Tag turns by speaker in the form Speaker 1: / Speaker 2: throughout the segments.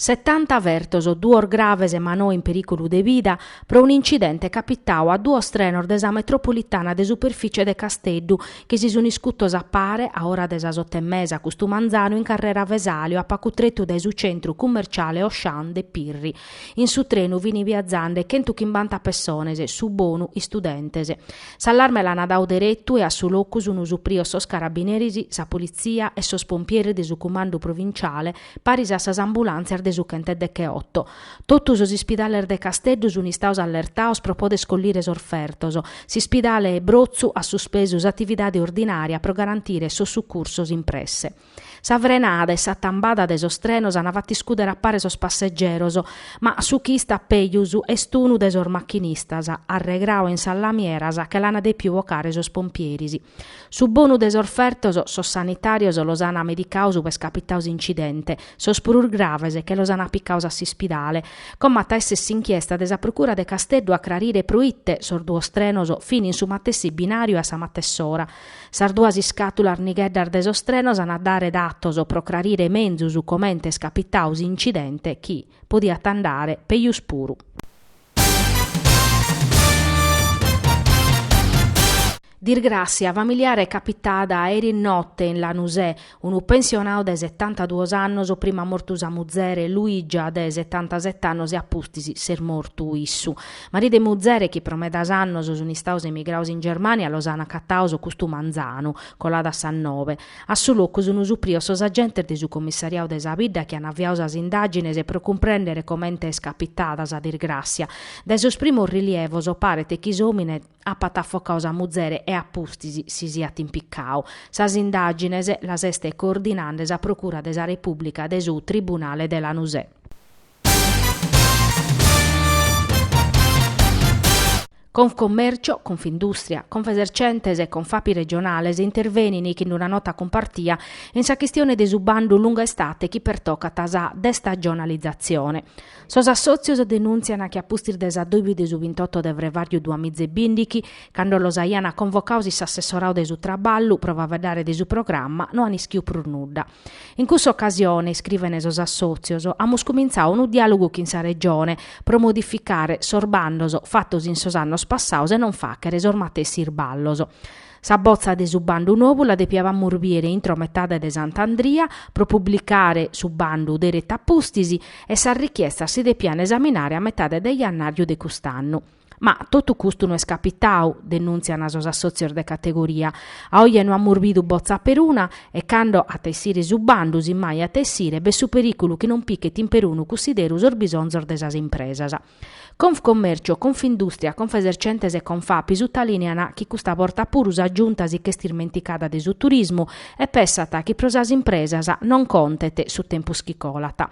Speaker 1: Setanta fertos, duos graves ma no in perìculu de vida, pro un'incidente capitadu a duos trenos de sa metropolitana de superfìcie de Casteddu, chi si sunt iscutos a pare, a ora de sas otto e mesa custu manzanu in carrera Vesalio a pagu tretu dae su centru cummerciale Auchan de Pirri. In su trenu fini viazende chentuchimbanta pessones, su bonu istudentes. S'allarme l'ana dadu deretu e a su locu sunu suprios sos carabineris, sa politzia e sos pompieris de su cumandu provinciale, paris a sas ambulàntzias de su chentedecheoto. Totu sos ispidales de Casteddu sun istados allertados pro poder collire sos fertos. S'ispidale Brotzu at suspesu s'atividade ordinària pro garantire sos sucursos in presse. Sa frenada e sa tambada de sos trenos an fatu iscùdere a pare sos passegeros, ma su chi istat pejus est unu de sos machinistas, arregradu in sas lamieras che l'an dèpiu bocare sos pompieris. Su bonu de sos fertos, sos sanitàrios los an medicados ube est capitadu s'incidente, sos prus graves che los an picados a s'ispidale. Como at a èssere s'inchiesta de sa Procura de Casteddu a crarire pro ite sos duos trenos fin in su matessi binàriu e a sa matess'ora. Sas duas iscàtulas nigheddas de sos trenos ant a dare datos pro crarire menzus comente est capitadu s'incidente chi podiat andare pejus puru. Dirgràssia familiare capitada eri note in Lanusè, Unu pensionau de setantaduos annos prima at mortu sa muzere, Luigia de setantaset'annos e a pustis s'est mortu issu. Maridu e muzere chi pro medas annos sunt istados emigrados in Germània los ant acatados custu manzanu, coladas sas nobe. A su locu sunt supridos sos agentes de su commissariadu de sa bidda chi ant aviadu sas indàgines pro cumprèndere comente est capitada sa dirgràssia. Dae sos primos rilievos paret chi s'òmine, Apat afocau sa muzere e a pustis si siat impicau. Sas indàgines las est coordinande sa Procura de sa Repùblica de su Tribunale de Lanusè. Confcommercio, Confindustria, Confesercentes e Confapi regionales intervenint chin una nota cumpartia in sa chistione de su bandu Lunga Estate chi pertocat sa destagionalizatzione. Sos assòtzios denùntziant chi a pustis de s'adòbiu de su bintotto de frevàriu duamiza e bìndighi, cando los aiant convocados in s'assessoradu de su traballu pro faeddare de su programma, no ant ischidu prus nudda. In cussa ocasione, iscrivent sos assòtzios, amus cumintzadu unu diàlogu chin sa Regione pro modificare sos bandos fatos in sos annos passados e non fàghere sos matessi irballos. Sa botza de su bandu novu la depiabamus bìere intro metade de Sant'Andria pro publicare su bandu deretu a pustis e sas richiestas si depian esaminare a metade de jannàriu de cust'annu. Ma totu custu no est capitau, denùntziant sos assòtzios de categoria. A oje no amus bidu botza peruna e cando at a essire su bandu, si mai at a essire, b'est su perìculu chi non pichet in perunu cussideru sos bisonzos de sas impresas. Confcommercio, Confindustria, Confesercentes e Confapi sutalìnean chi custa borta puru sa Giunta si ch'est ismenticada de su turismu e pessat chi pro sas impresas non contet su tempus chi colat.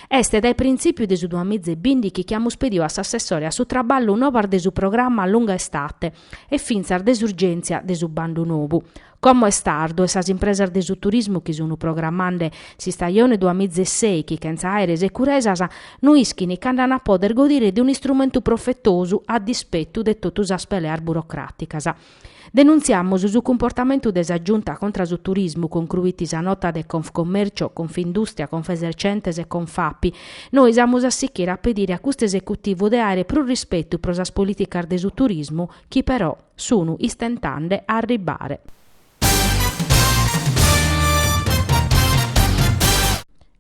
Speaker 1: Est dae printzìpiu de su duamiza e bìndichi chi amus pediu a s'assessore a su traballu novas de su programma Lunga Estate e fintzas de s'urgèntzia de su bandu novu, Como est tardu e sas impresas de su turismu chi sun programmande s'istajone duamiza e sèichi chentza àere securesas no ischin cando an a poder godire de un'istrumentu profetosu a dispettu de totu sas peleas burocràticas. Denuntziamus su cumportamentu de sa Giunta contra su turismu, concruit sa nota de Confcommercio, Confindustria, Confesercentes e Confapi. Nois amus a sichire a pedire a custu esecutivu de aere prus rispetu pro sas polìticas de su turismu chi però. Sunu istentande a arribbare.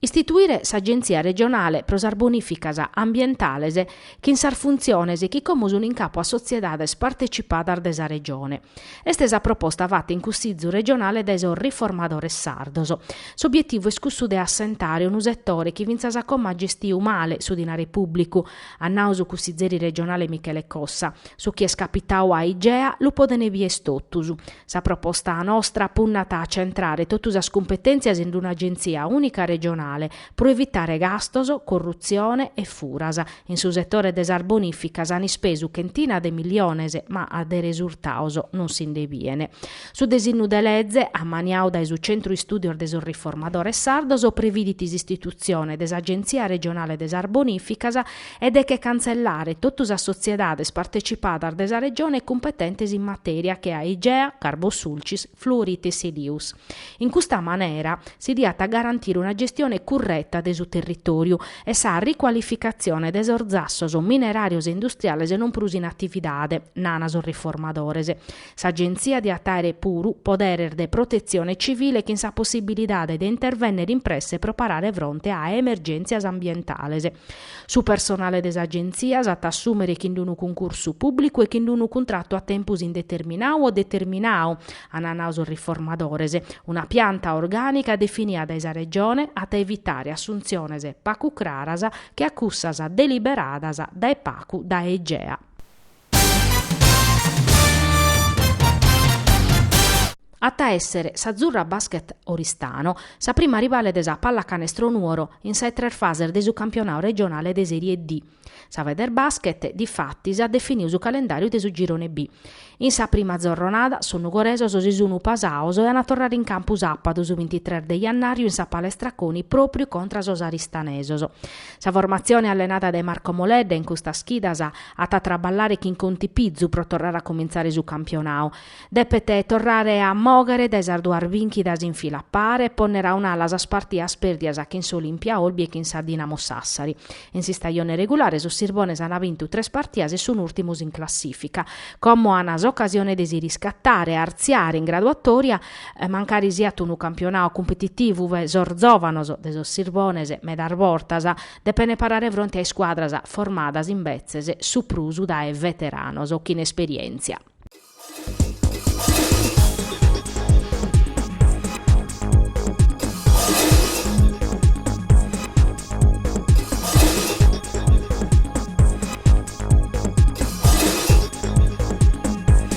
Speaker 1: Istituire s'Agenzia regionale pro sas bonìficas ambientales chin sas funtziones chi como sun in capo a sotziedades partecipadas de sa Regione. Est sa proposta fatta in Cussizu regionale dae sos Riformadores sardos. S'obietivu est cussu de assentare unu setore chi fintzas a como at gestiu male su dinare pùblicu, at nau su cussizeri regionale Michele Cossa. Su chi est capitau a Igea lu podent bìer totus. Sa proposta nostra punnat a centrare totu sas cumpetèntzias in d'una agentzia ùnica regionale pro evitare gastos, corrutzione e furas. In su setore de sas bonìficas an ispesu chentina de miliones ma de resurtaos non si nde biene. Su desinnu de leze, ammaniau dae su Centru Istùdios de sos Riformadores Sardos, previdit s'istitutzione de s'Agentzia Regionale de sas Bonìficas e de che cantzellare totu sas sotziedades partecipadas de sa Regione cumpetentes in matèria che a Igea, Carbosulcis, Fluorite Silius. In custa manera si diat garantire una gestione curreta de su territòriu e sa ricualificatzione de sos zassos mineràrios e industriales non prus in atividade, nana sos Riformadores. S'Agenzia diat àere puru poderes de protetzione tzivile chin sa possibilidade de intervènnere in presse pro parare fronte a emergèntzias ambientales. Su personale de s'Agenzia s'at a assùmere chin d'unu cuncursu pùblicu e chin d'unu cuntratu a tempus indeterminau o determinau, ant nau sos riformadores. Una pianta orgànica definia dae sa Regione at a evitare assuntziones pacu craras che a cussas deliberadas dae pacu dae Igea. At a èssere s'Azzurra Basket Oristano sa prima rivale de sa Pallacanestro Nuoro in sa 'e tres fases de su campionadu regionale de Serie D. Sa Federbasket, difatis, at definidu su calendàriu de su Girone B. In sa prima zorronada, sos nugoresos si sun pasados e an a torrare in campu sàbadu, su bintitres de jannàriu, in sa Palestra Coni pròpriu contra sos aristanesos. Sa formatzione allenada dae Marco Moledda in custas chidas at a traballare chin contipizu pro torrare a cumintzare su campionau. Depet torrare a moghere dae sas duas bìnchidas in fila a pare e ponner a un'ala sas partias pèrdias chin s'Olimpia Olbia e chin sa Dinamo Sassari. In s'istajone regulare sos sirbones ant bintu tres partias e sun ùrtimos in classìfica. Como an s'ocasione de si riscatare e arziare in graduatòria, mancari siat unu campionau cumpetitivu e sos zòvanos de sos Sirbones, medas bortas depene parare fronte a iscuadras formadas imbetzes su prus dae veteranos chin esperièntzia.